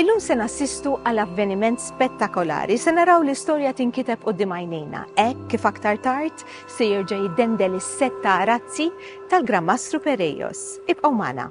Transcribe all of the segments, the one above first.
Illum se nassistu għal avveniment spettakolari, se naraw l-istorja tinkiteb qudiem għajnejna, hekk kif aktar tard se jerġa' jiddendel is-sett ta' arazzi tal-Gran Mastru Perejos. Ibqgħu magħna.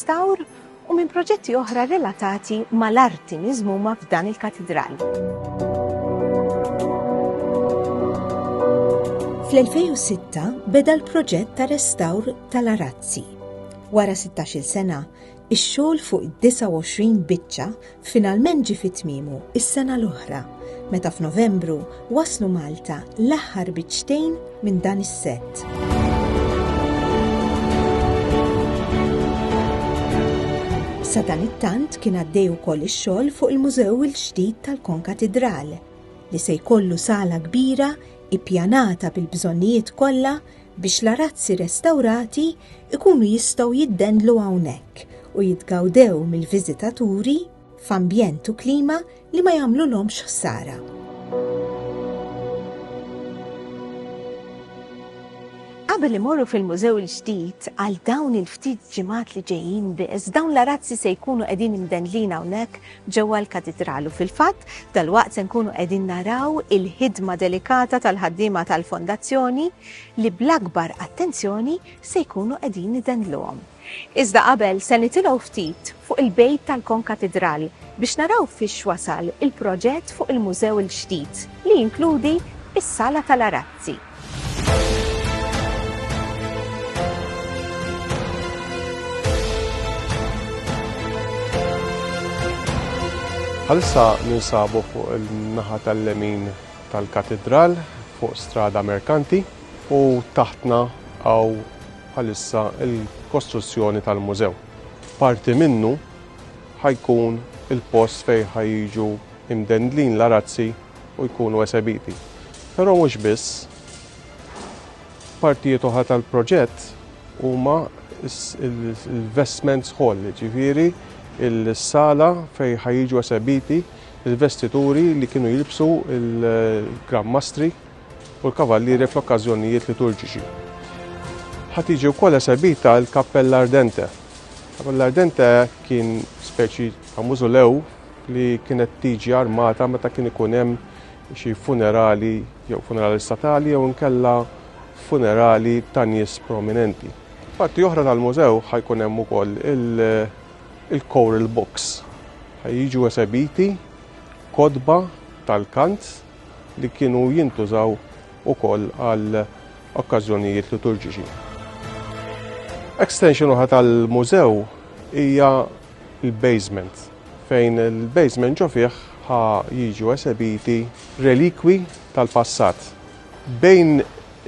Stawr u minn proġetti oħra relatati mal-arti miżmuma f'dan il-Katidral. Fl-2006 beda l-proġett ta' restawr tal-arazzi. Wara 16-il sena, ix-xogħol fuq 29 biċċa Finalment ġie fi tmiemu s-sena l-oħra meta f'Novembru waslu Malta l-aħħar biċċtejn minn dan is-sett. Sadanittant kien għaddej ukoll ix-xogħol fuq il-Mużew il-ġdid tal-Konkatidral li se jkollu sala kbira ippjanata bil-bżonnijiet kollha biex l-arazzi restawrati jkunu jistgħu jiddendlu hawnhekk u jitgawdew mill-viżitaturi f'ambjent u klima li ma jagħmlulhomx ħsara. Qabel imorru fil-mużew il-ġdid għal dawn il-ftit ġimgħat li ġejjin biss, dawn l-arazzi se jkunu qegħdin imdendlin hawnhekk Ġewwa l-Katidral u fil-fatt, dalwaqt se nkunu qegħdin naraw il-ħidma delikata tal-ħaddiema tal-Fondazzjoni li bl-akbar attenzjoni se jkunu qegħdin idendluhom. Iżda qabel se nitilgħu ftit fuq il-bejt tal-Konkatidral biex naraw fiex wasal il-proġett fuq il-mużew il-ġdid li jinkludi s-Sala tal-Arazzi. Bħalissa ninsabu fuq il-naħa tal-lemin tal-katedral fuq strada merkanti u taħtna għaw bħalissa il-kostruzzjoni tal-mużew. Parti minnu ħajkun il-post fej ħajġu imdendlin l-arazzi u jkunu esebiti. Però mhux biss. Partijiet oħra tal-proġett huma l-vestments hall, ġifieri il-sala fejn ħajġu esebiti il-vestituri li kienu jilbsu il-Gran Mastri u l-Kavallieri fl-okkażjonijiet liturġiċi. Ħa tiġi wkoll esebita l-Kappella Ardente. Kappella Ardente kien speċi ta' mużulew li kienet tiġi armata meta kien ikun hemm xi funerali jew funerali statali jew inkella funerali ta' nies prominenti. Parti oħra tal-mużew ħajkun hemm ukoll il-choral books. Ħajjiġu esebiti kotba tal-kant li kienu jintużaw ukoll għal okkażjonijiet liturġiċi. Extension oħra tal-mużew hija il-basement, fejn il-basement ġo fih ħa jiġu esebiti relikwi tal-passat. Bejn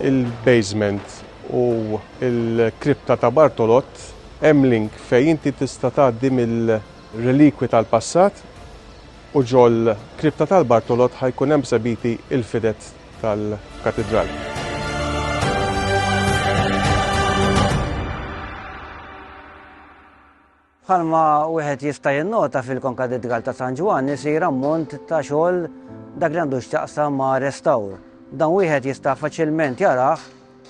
il-basement u l-kripta ta' Bartolott hemm link fejn inti tista' tgħaddi mill-relikwi tal-passat u ġol-kripta tal-Bartolott ħa jkun hemm sebiti il-fidet tal-katidral. Bħalma wieħed jista' jinnota fil-Konkadidgal ta' San Ġwann isir ammont ta' xogħol dak li għandu x'taqsam ma' restawr. Dan wieħed jista' faċilment jarah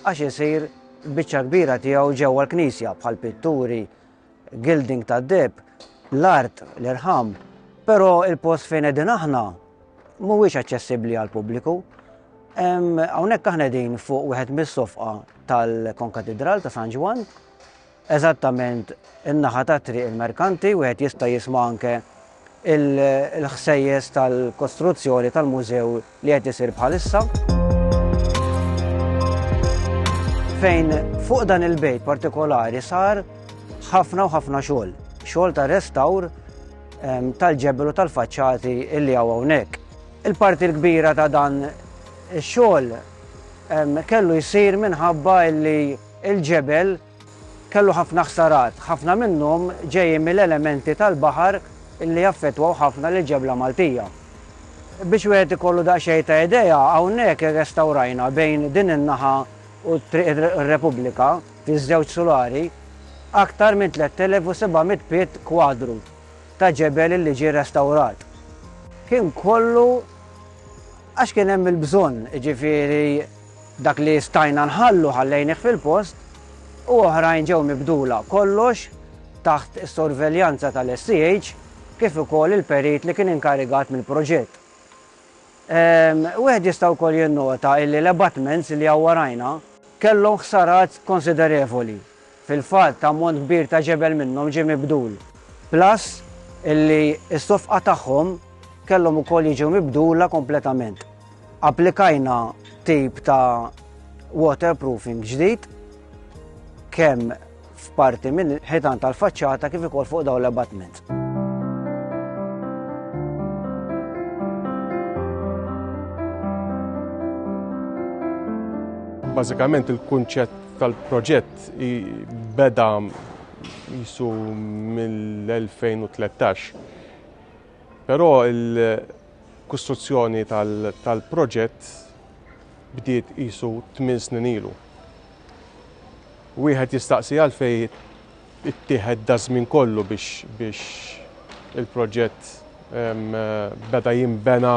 għax isir biċċa kbira tiegħu ġewwa l-knisja bħal pitturi, gilding tad-deb, l-art, l-irħam, però il-post fejn qegħdin aħna mhuwiex aċċessibbli għal pubbliku. Hawnhekk aħna din fuq wieħed mis-sofqa tal-Konkatidral ta' San Ġwan eżattament in-naħa ta' Triq il-Merkanti, wieħed jista' jisma' anke l-ħsejjes tal-kostruzzjoni tal-mużew li qed isir bħalissa. Fejn fuq dan il-bejt partikolari sar ħafna u ħafna xogħol, xogħol ta' restawr tal-ġebel u tal-faċċati illi hawn hawnhekk. Il-parti l-kbira ta' dan ix-xogħol kellu jsir minħabba illi Il-ġebel kellu ħafna ħsarat, ħafna minnhom ġejjin mill-elementi tal-baħar li affettwaw ħafna lill-ġebla Maltija. Biex wieħed ikollu daqsxejn ta' idea, hawnhekk irrestawrajna bejn din in-naħa u Triq ir-Repubblika, fiż-żewġ sulari, aktar minn 3,700 pied kwadru ta' ġebel li ġie restawrat. Kien kollu għax kien hemm il-bżonn, jiġifieri, Dak li stajna nħallu ħallejnih fil-post u oħrajn ġew mibdula, kollox taħt is-sorveljanza tal-SCH kif ukoll il-perit li kien inkarigat mill-proġett. Wieħed jista' wkoll jinnota illi l-abutments li għawwarajna, kellhom ħsarat konsiderevoli Fil-fatt, ammont kbir ta' ġebel minnhom ġie mibdul. Plus illi s-sofqa tagħhom kellhom ukoll jiġu mibdula kompletament. Applikajna tip ta' waterproofing ġdid kemm f'parti mill-ħitan tal-faċċata kif ukoll fuq dawn l-abutments. Bażikament il-kunċett tal-proġett beda jisu mill-2013. Però il-kostruzzjoni tal-proġett bdiet jisu 8 snin ilu. Wieħed jistaqsi għalfej ittieħed daż-żmien kollu biex il-proġett beda jinbena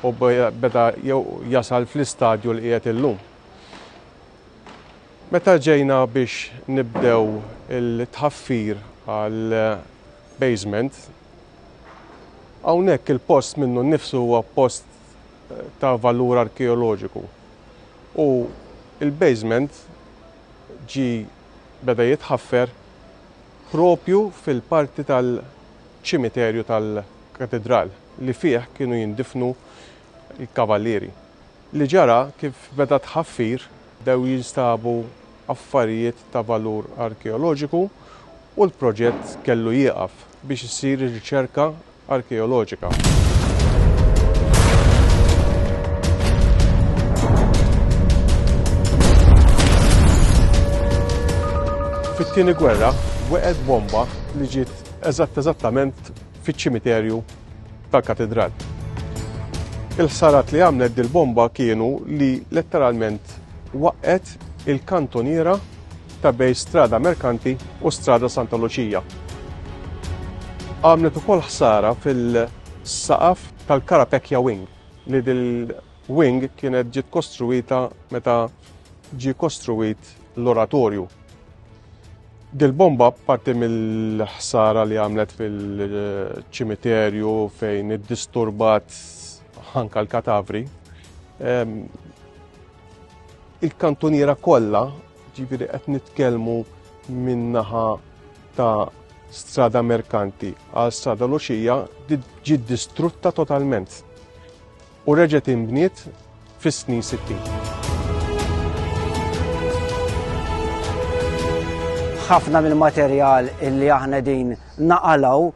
u beda jew jasal fl-istadju li qiegħed illum. Meta ġejna biex nibdew il-tħaffir għall-basement, hawnhekk il-post minnu nnifsu huwa post ta' valur arkeoloġiku u l-basement ġie beda jitħaffer proprju fil-parti tal-ċimiterju tal-Katidral li fih kienu jindifnu l-Kavalieri. Li ġara kif beda t-tħaffir bdew jinstabu affarijiet ta' valur arkeoloġiku u l-proġett kellu jieqaf biex issir ir-riċerka arkeoloġika. Fit-Tieni Gwerra weqgħet bomba li ġiet eżatt eżattament fiċ-ċimiterju tal-Katidral. Il-ħsarat li għamlet dil-bomba kienu li letteralment waqqet il-kantoniera ta' bej Strada Merkanti u Strada Santa Luċija. Għamlet ukoll ħsara fil-saqaf tal-Karapekja Wing li dil-wing kienet ġiet kostruita meta ġie kostruit l-oratorju. Dil-bomba parti mill-ħsara li għamlet fil-ċimiterju fejn iddisturbat ħanka l-katavri. Il-kantuniera kollha, ġifieri qed nitkellmu minnaħa ta' strada merkanti għal strada loxija ġiet distrutta totalment. u reġgħet inbniet fis-snin sittin. Ħafna mill-materjal illi aħna din naqalaw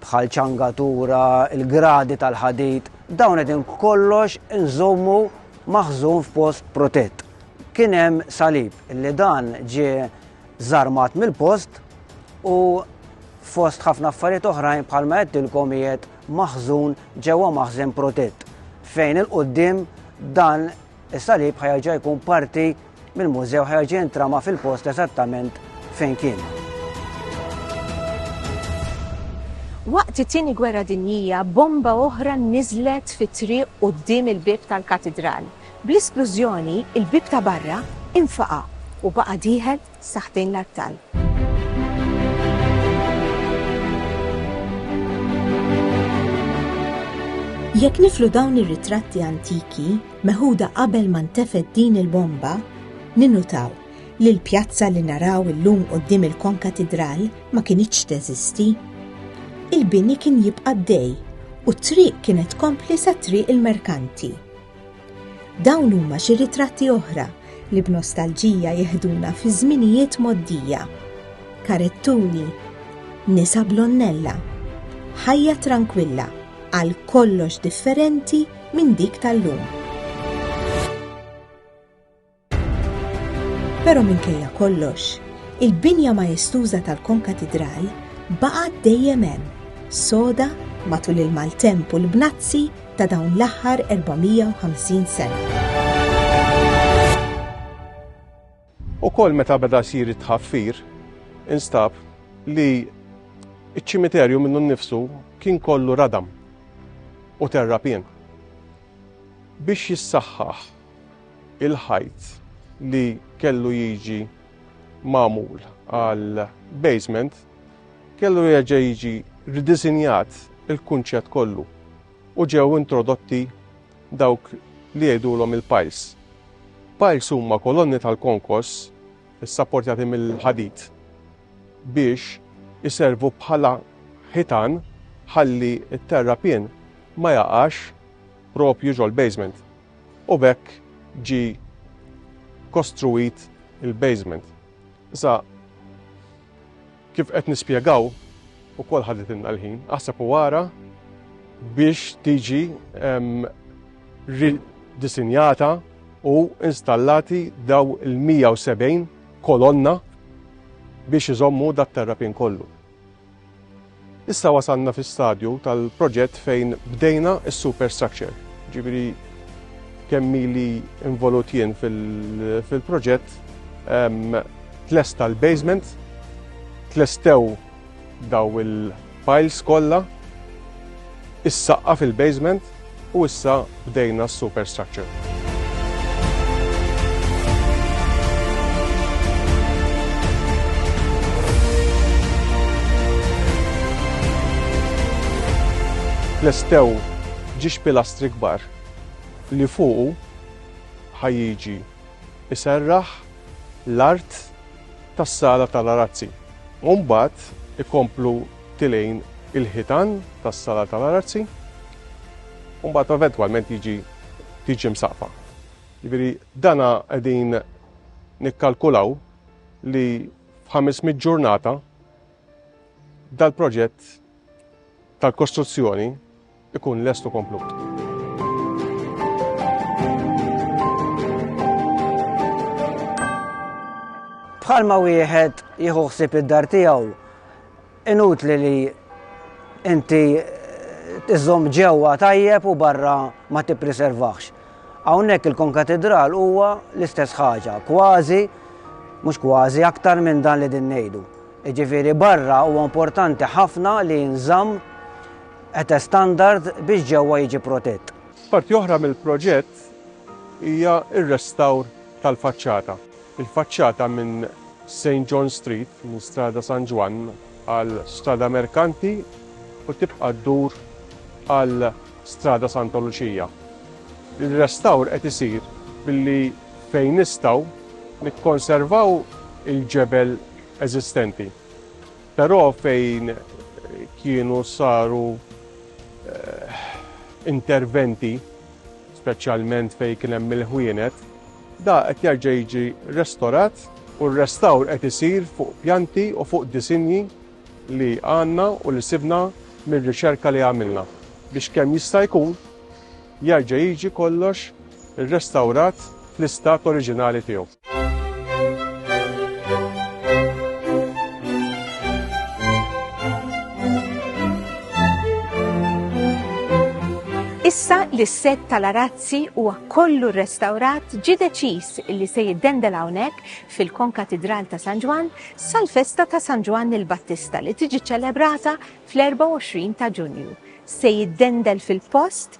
bħal ċangatura, il-gradi tal-ħadid, dawn qegħdin kollox inżommu maħżun f'post protett. Kien hemm salib li dan ġie żarmat mill-post u fost ħafna affarijiet oħrajn bħalma qedtilkom qiegħed maħżun ġewwa maħżen protett fejn il-qudiem dan is-salib ħajaġa jkun parti mill-mużew ħajaġa jintrama fil-post eżattament fejn kien. Waqt it-tieni gwerra dinjija, bomba oħra niżlet fit-triq quddiem il-bieb tal-katidral. Bl-isplużjoni, il-bieb ta' barra infaqa' u baqa' dieħel Saħbin l-abtal. Jekk niflu dawn ir-ritratti antiki meħuda qabel ma ntefgħet din il-bomba, ninnutaw li l-pjazza li naraw illum quddiem il-Konkatidral ma kinitx teżisti. Il-bini kien jibqa' dej u t-triq kienet tkompli sa triq il-merkanti. Dawn huma xi ritratti oħra li b'nostalġija jihduna fi żminijiet moddija. Karettuni, nisa blonnella, ħajja trankwilla għal kollox differenti minn dik tal-lum. Però minkejja kollox, il-binja maestuża tal-konkatidral baqgħet dejjem hemm, soda matul il-maltemp u l-bnazzi ta' dawn l-aħħar 450 sena. Ukoll meta beda jsir it-tħaffir, instab li iċ-ċimiterju minnu nnifsu kien kollu radam u terrapien. Biex jissaħħaħ il-ħajt li kellu jiġi magħmul għal basement kellu jerġa' jiġi ridisinjat il-kunċett kollu u ġew introdotti dawk li jgħidulhom il-piles. Piles huma kolonni tal-konkos issapportjati mill-ħadid biex iservu bħala ħitan ħalli t-terrapien ma jaqax propju ġol-basement. U b'hekk ġie kostruit il-basement. Issa kif qed nispjegaw ukoll ħaditilna l-ħin, aħseb u ara biex tiġi ridisinjata u installati daw il-170 kolonna biex iżommu dat terrapin kollu. Issa wasalna fi stadju tal-proġett fejn bdejna s-superstructure. Ġifieri kemm li involut jien fil-proġett ehm, tlesta l-basement, tlestew daw il-piles kollha, is-saqqa fil-basement, U issa bdejna s-superstructure. Tlestew ġiex pilastri kbar li fuqu ħajjiġi iserraħ l-art tas-sala tal-arazzi. U mbagħad ikomplu tilejn il-ħitan tas-sala tal-arazzi u mbagħad eventwalment jiġi tiġi msaqfa. Jiġifieri dana qegħdin nikkalkulaw li f'ħamismiet ġurnata dal-proġett tal-kostruzzjoni ikun lest u komplut. bħalma wieħed jieħu ħsieb id-dar tiegħu inutli li inti tiżom ġewwa tajjeb u barra ma tippriservax. Hawnhekk il-konkatedral huwa l-istess ħaġa, kważi mhux kważi aktar minn dan li din ngħidu. Jiġifieri barra huwa importanti ħafna li nżamm Qta' standard biex ġewwa jiġi protett. Parti oħra mill-proġett hija r-restawr tal-faċċata. Il-faċċata minn Saint John Street, minn Strada San Ġwann għal Strada Merkanti u tibqa' ddur għal Strada Santa Luċija. Ir-restawr qed isir billi fejn nistgħu nikkonservaw il-ġebel eżistenti. Però fejn kienu saru interventi, speċjalment fejn kien hemm il-ħwienet, da qed jerġa' jiġi restorat u r-restawr qed isir fuq pjanti u fuq disinji li għandna u li sibna mir-riċerka li għamilna biex kemm jista' jkun jerġa' jiġi kollox irrestawrat fl-istat oriġinali tiegħu. Issa li s-set tal-arazzi huwa kollu restawrat ġi deċiż li se jiddendel hawnhekk fil-Konkatidral ta' San Ġwan sal-festa ta' San Ġwan il-Battista li tiġi ċelebrata fl-24 ta' Ġunju. Se jiddendel fil-post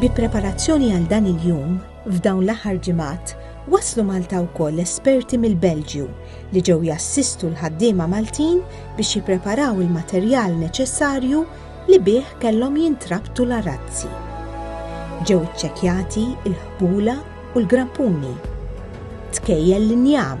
Bi preparazzjoni għal dan il-jum, f'dawn l-aħħar ġimgħat waslu Malta wkoll esperti mill-Belġju li ġew jassistu l-ħaddiema Maltin biex jippreparaw il-materjal neċessarju li bih kellhom jintrabtu l-arazzi. Ġew iċċekkjati l-ħbula u l-grappuni, tkejjel l-injam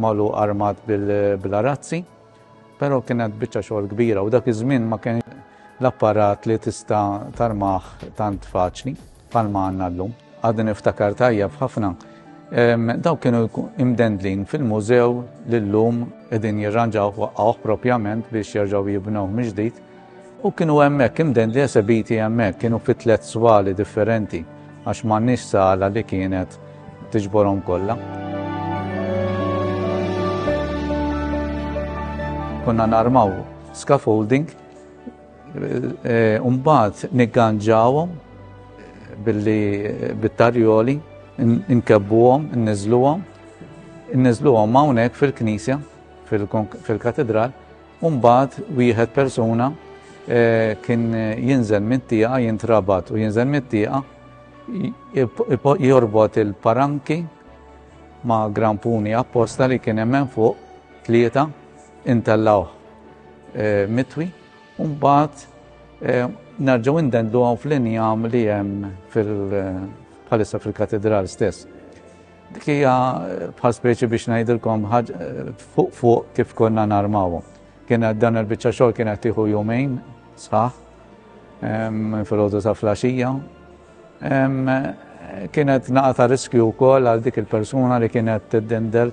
magħluq armat bil-arazzi, però kienet biċċa xogħol kbira u dak iż-żmien ma kien l-apparat li tista' tarmah tant faċli palma għandna llum. Għadni niftakar tajjeb ħafna. Daw kienu imdendlin fil-mużew li llum qegħdin jirranġaw waqqgħuh propjament biex jerġgħu jibnew miġdid U kienu hemmhekk, imdendli esebiti hemmhekk, kienu fi tliet swali differenti għax m'għandniex sala li kienet tiġborhom kollha. konna narmaw scaffolding, eh, umbat nigganġawhom eh, billi eh, bit-tarjoli, nkebbuhom, nniżluhom, nniżluhom hawnhekk fil-knisja, fil-katedral, u mbagħad wieħed persuna eh, kien jinżel mit-tieqa, jintrabat u jinżel mit-tieqa, jorbot il-paranki ma' grampuni apposta li kien hemm fuq tlieta intellawh eh, mitwi, u mbagħad eh, narġaw indendlu għaw fl-injam li jem fil-palissa eh, fil-katedral stess. Dik hija bħal speċi biex ngħidilkom fuq fuq kif konna narmawhom. Kien dan il-biċċa xogħol kien qed tieħu jumejn sħaħ fil-ħodu ta' flaxija. Kienet naqa ta' riskju wkoll għal dik il-persuna li kienet tiddendel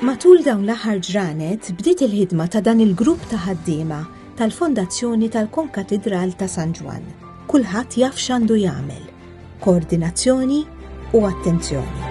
Matul dawn l-aħħar ġranet bdiet il-ħidma ta' dan il-grupp ta' ħaddiema tal-Fondazzjoni tal-Konkatidral ta' San Ġwann. Kulħadd jaf x'għandu jagħmel, koordinazzjoni u attenzjoni.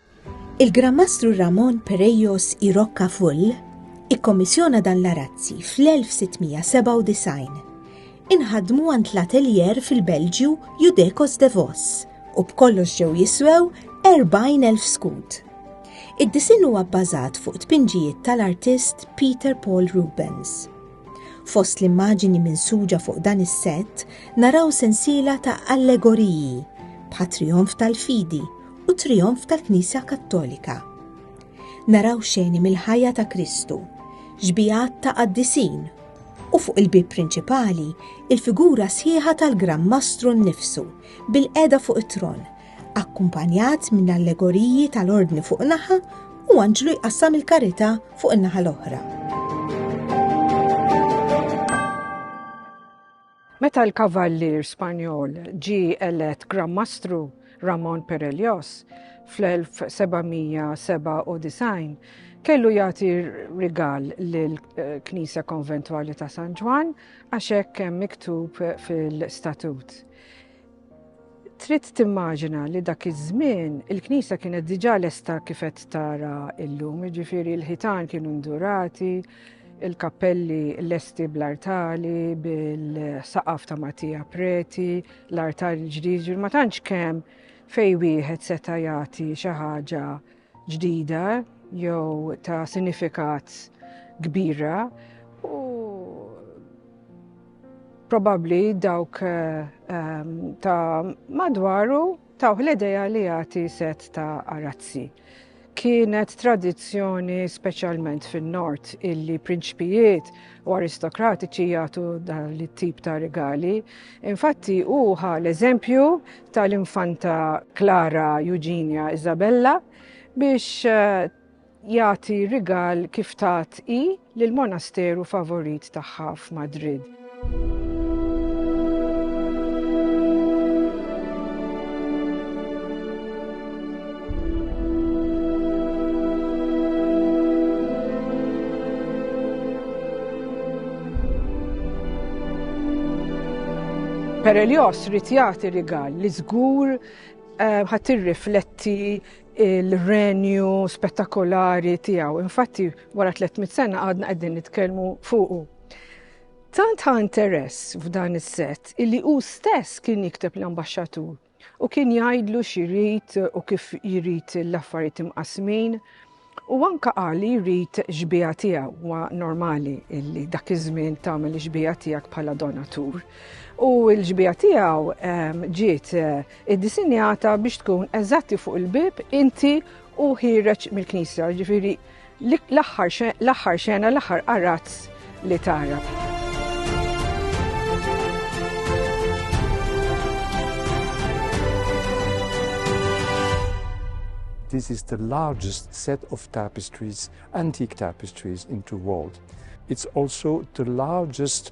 Il-Gran Mastru Ramon Perejos i Roccafull ikkommissjona dan l-arazzi fl-1697. Inħadmu għand l-ateljer fil-Belġju Judecos de Vos u b'kollox ġew jiswew 40,000 skud. Id-disinn huwa bbażat fuq tpinġijiet tal-artist Peter Paul Rubens. Fost l-immaġini minsuġa fuq dan is-sett naraw sensiela ta' allegoriji bħat-trijonf tal-fidi u trijonf tal-Knisja Kattolika. Naraw xeni mill-ħajja ta' Kristu, ġbijat ta' qaddisin u fuq il-bib prinċipali il-figura sħiħa tal-Gran Mastru nnifsu bil-qeda fuq it-tron, akkumpanjat minn allegoriji tal-ordni fuq naħa u anġlu jqassam il-karita fuq in-naħa l-oħra. Meta l-Kavallier Spanjol ġie elett Gran Mastru, Ramon Perellos, fl-1797, kellu jagħti rigal lill-Knisja Konventwali ta' San Ġwann għax hekk hemm miktub fil-statut. Trid timmaġina li dak iż-żmien il-Knisja kienet diġà lesta kif qed tara llum, jiġifieri l-ħitan kienu ndurati, il-kappelli lesti bl-artali, bil-saqaf ta' Matija Preti, l-artali l-ġdid, ma tantx kemm fej wieħed seta' jagħti xi ħaġa ġdida jew ta' sinifikat kbira u probabbli dawk ehm, ta' madwaru tawh l-ideja li jagħti set ta' arazzi. Kienet tradizzjoni speċjalment fin-nord illi prinċpijiet u aristokratiċi jagħtu dan it-tip ta' rigali. Infatti hu l-eżempju tal-Infanta Klara Eugenia Isabella biex jagħti rigal kif tat i lill-monasteru favorit tagħha f'Madrid. Perelios rrit jagħti rigal li żgur eh, ħadd irrifletti il-renju spettakolari tiegħu. Infatti wara 300 sena għadna qegħdin nitkellmu fuqu. Tant ħa interess f'dan is-set illi hu stess kien jikteb l-ambaxxatur u kien jgħidlu x'irid u kif jrid l-affarijiet imqasmin u anka qal li jrid xbija tiegħu huwa normali li dak iż-żmien tagħmel xbija tiegħek bħala donatur. U l-ġbija tiegħu ehm, ġiet eh, iddisinjata biex tkun eżatti fuq il-bib inti u ħireġ mill-knisja, ġifieri L-aħħar l-aħħar xena l-aħħar qarazz li tara. This is the largest set of tapestries, antique tapestries in the world. It's also the largest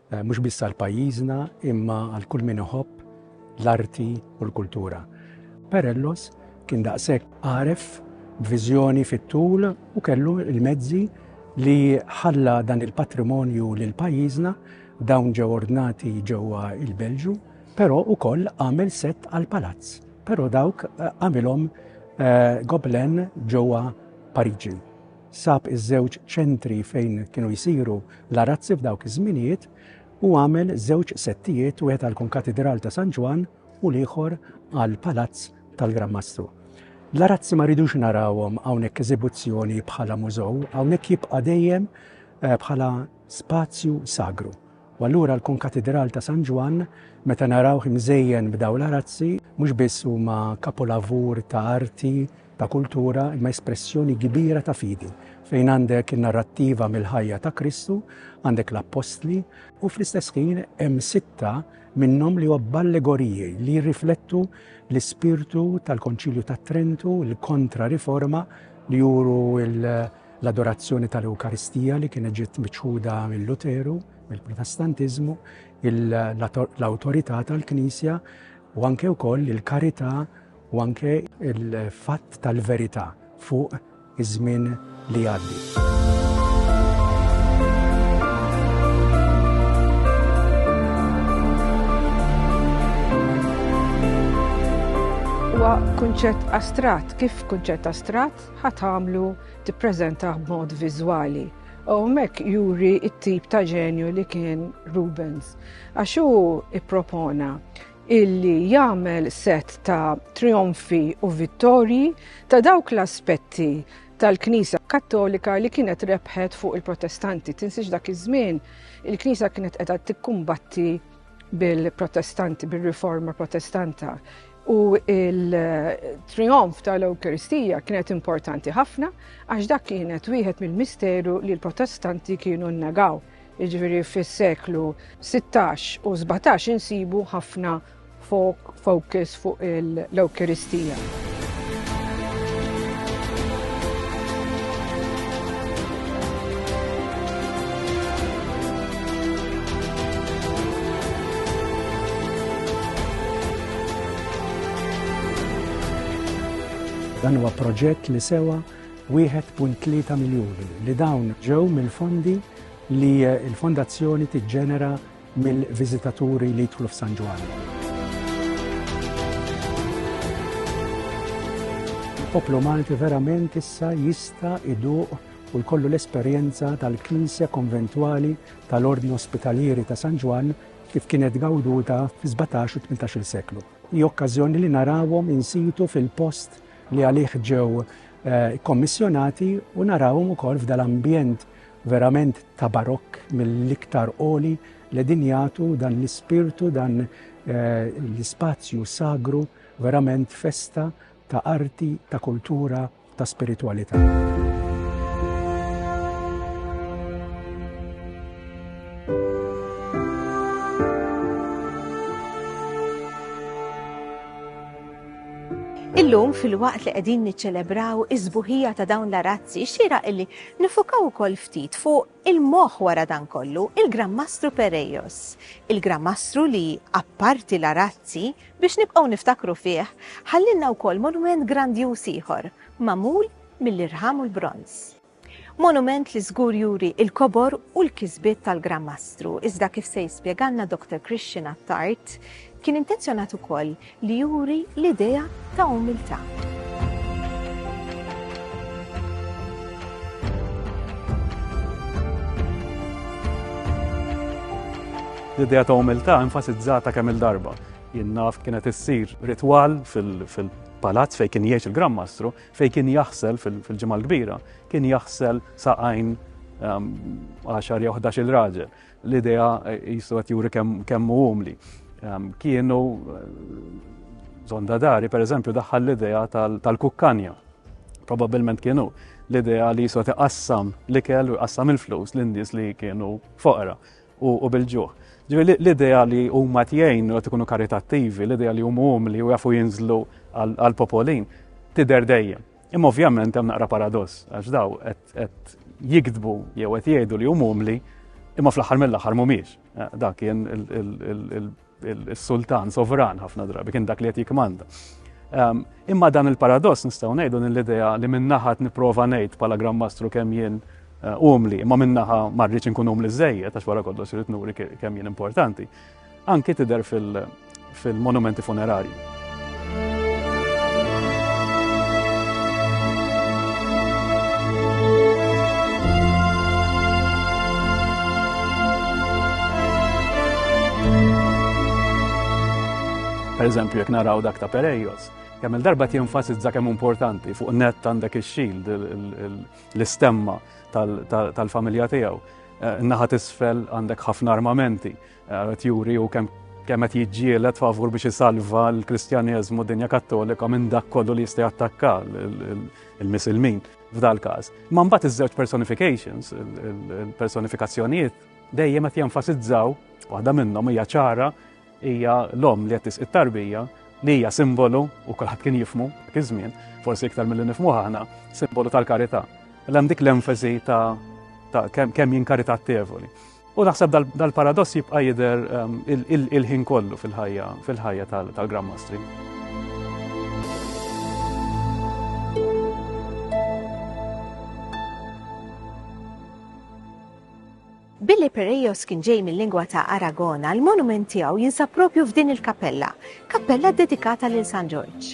Mhux biss għal pajjiżna imma għal kull min iħobb l-arti u l-kultura. Perellos kien daqshekk għaref b'viżjoni fit-tul u kellu l-mezzi li ħalla dan il-patrimonju lil pajjiżna, dawn ġew ordnati ġewwa l-Belġju, però wkoll għamel sett għall-palazz, però dawk għamilhom Gobelin ġewwa Pariġi. sab iż-żewġ ċentri fejn kienu jsiru l-arazzi f'dawk iż-żminijiet u għamel żewġ settijiet wieħed għall-Konkatidral ta' San Ġwann u l-ieħor għall-Palazz tal-Gran Mastru. L-arazzi ma rridux narawhom hawnhekk eżibuzzjoni bħala mużow, hawnhekk jibqa' dejjem eh, bħala spazju sagru. U allura l-Konkatidral ta' San Ġwann meta naraw imżejjen b'daw l-arazzi mhux biss huma kapolavur ta' arti ta' kultura imma espressjoni kbira ta' fidi, fejn għandek in-narrattiva mill-ħajja ta' Kristu, għandek l-appostli, u fl-istess ħin hemm sitta minnhom li huwa b'allegoriji li jirriflettu l-ispirtu tal-Konċilju ta' Trentu, l-Kontra Riforma li juru l-adorazzjoni tal-Ewkaristija li kienet ġiet miċħuda mill-Luteru, mill-Protestantiżmu, l-awtorità tal-Knisja u anke wkoll il-karità u anke l-fatt tal-verità fuq iż-żmien li jgħaddi. huwa kunċett astrat, kif kunċett astrat ħat għamlu tippreżentah b'mod viżwali. U mek juri it-tip ta' ġenju li kien Rubens. Għax hu ippropona illi jagħmel set ta' trionfi u vittorji ta' dawk l-aspetti tal-Knisja Kattolika li kienet rebħet fuq il-Protestanti. Tinsiex dak iż-żmien il-Knisja kienet qiegħda tikkumbatti bil-Protestanti, bil-Riforma Protestanta. U il-trionf tal-Ewkaristija kienet importanti ħafna għax dak kienet wieħed mill-misteru li l-Protestanti kienu nnegaw. Jiġifieri fis-seklu 16 u 17 insibu ħafna focus fuq l-Ewkeristija. Dan huwa proġett li sewa 1.3 miljuni li dawn ġew mill-fondi li l-fondazzjoni tiġġenera mill-viżitaturi li jidħlu f'San Ġwann. il-poplu Malti verament issa jista' iduq u jkollu l-esperjenza tal-Knisja Konventwali tal-Ordni Ospitalieri ta' San Ġwann kif kienet gawduta fi 17 u 18 seklu. Hi okkażjoni li narawhom insitu fil-post li għalih ġew ikkommissjonati u narawhom ukoll f'dal ambjent verament ta' barokk mill-iktar qoli li din jagħtu dan l-ispirtu dan l-ispazju sagru verament festa ta' arti, ta' kultura, ta' spiritwalità. Illum fil-waqt li qegħdin niċċelebraw iż-żbuħija ta' dawn l-arazzi, xira illi nifukaw ukoll ftit fuq il-moħħ wara dan kollu, il-Gran Mastru Perejos. Il-Gran Mastru li apparti l-arazzi biex nibqgħu niftakru fih, ħallinna wkoll monument grandjuż ieħor, magħmul mill-irħam u l-bronz. Monument li żgur juri il-kobor u l-kisbiet tal-Gran Mastru, iżda kif se jispjegalna Dr. Christian Attard, kien intenzjonat ukoll li juri l-idea ta' umiltà. L-idea ta' umiltà enfasizzata kemm il-darba. Jien naf kienet issir ritwal fil-palazz fejn kien jgħix il-Gran Mastru, Fejn kien jaħsel fil-Ġimgħa l-Kbira, kien jaħsel saqajn għaxar jew ħdax-il raġel. L-idea jisu qed juri kemm hu umli. Kienu Zondadari, per eżempju, daħħal l-idea tal-kukkanja. Probabilment kienu l-idea li jisu iqassam l-ikel u iqassam il-flus l-indis li kienu foqra. u bil-ġuħ. Ġifieri l-idea li huma qed jgħinu qed ikunu karitattivi, l-idea li huma umli u jafu jinżlu għal popolin tidher dejjem. Imma ovvjament hemm naqra paradoss għax daw qed jiktbu jew qed jgħidu li huma umli imma fl-aħħar mill-aħħar mhumiex. Dak kien il Is-sultan sovran ħafna drabi kien dak li qed jikmanda. Ehm, imma dan il-paradoss nistgħu ngħidu l-idea li minnaħat nipprova ngħid bħala Gran Mastru kemm jien eh, umli, imma minnaħa ma rridx inkun umli żejjed għax wara kollox irid nuri kemm jien importanti. Anki tidher fil-monumenti funerarji. Per eżempju, jek naraw dak ta' Perejos, kemm il-darba jenfasizza kemm importanti fuq net għandek ix-xild l-istemma tal-familja tiegħu. Eh, naħat isfel għandek ħafna armamenti, Qed juri hu kemm kemm qed jiġġieled favur biex isalva l-Kristjaneżmu dinja Kattolika minn dak kollu li jista' jattakka il-Misilmin f'dal-każ. Ma mbagħad iż-żewġ personifications, il-personifikazzjonijiet dejjem qed jenfasizzaw waħda minnhom hija ċara hija l-om li qed it-tarbija li hija simbolu u kulħadd kien jifmu iż-żmien, forsi iktar mill nifmu aħna, simbolu tal-karità. L-hemm dik l-enfasi ta' kemm jinkarità tevoli. U naħseb dal-paradoss jibqa' jidher il-ħin kollu fil-ħajja fil-ħajja tal-Grand Mastri. Billi Perejos kien ġej mill-lingwa ta' Aragona, l-monument tiegħu jinsab propju f'din il-kappella, kappella dedikata lil San Ġorġ.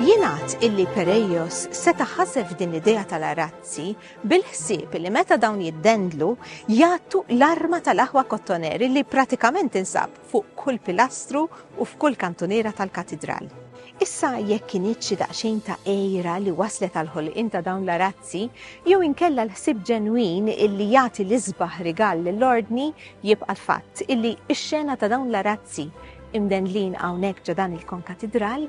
Jingħad illi Perejos seta' ħasef din l-idea tal-arazzi bil-ħsieb li meta dawn jiddendlu jagħtu l-arma tal-aħwa kottoneri li pratikament insab fuq kull pilastru u f'kull kantuniera tal-Katidral. Issa jekk kinitx xi daqsxejn ta' għira li wasslet għall-ħolqien ta' dawn l-arazzi, jew inkella l-ħsieb ġenwin illi jagħti l-isbaħ rigal lill-Ordni, jibqa' l-fatt illi x-xena ta' dawn l-arazzi imdendlin hawnhekk ġo dan il-konkatidral,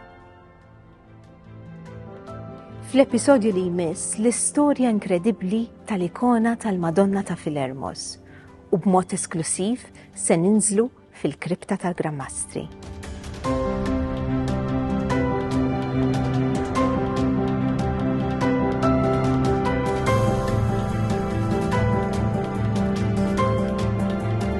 Fl-episodju li jmiss l-istorja inkredibbli tal-ikona tal-Madonna ta' Filermos u b'mod esklusiv se ninżlu fil-kripta tal-Grammastri.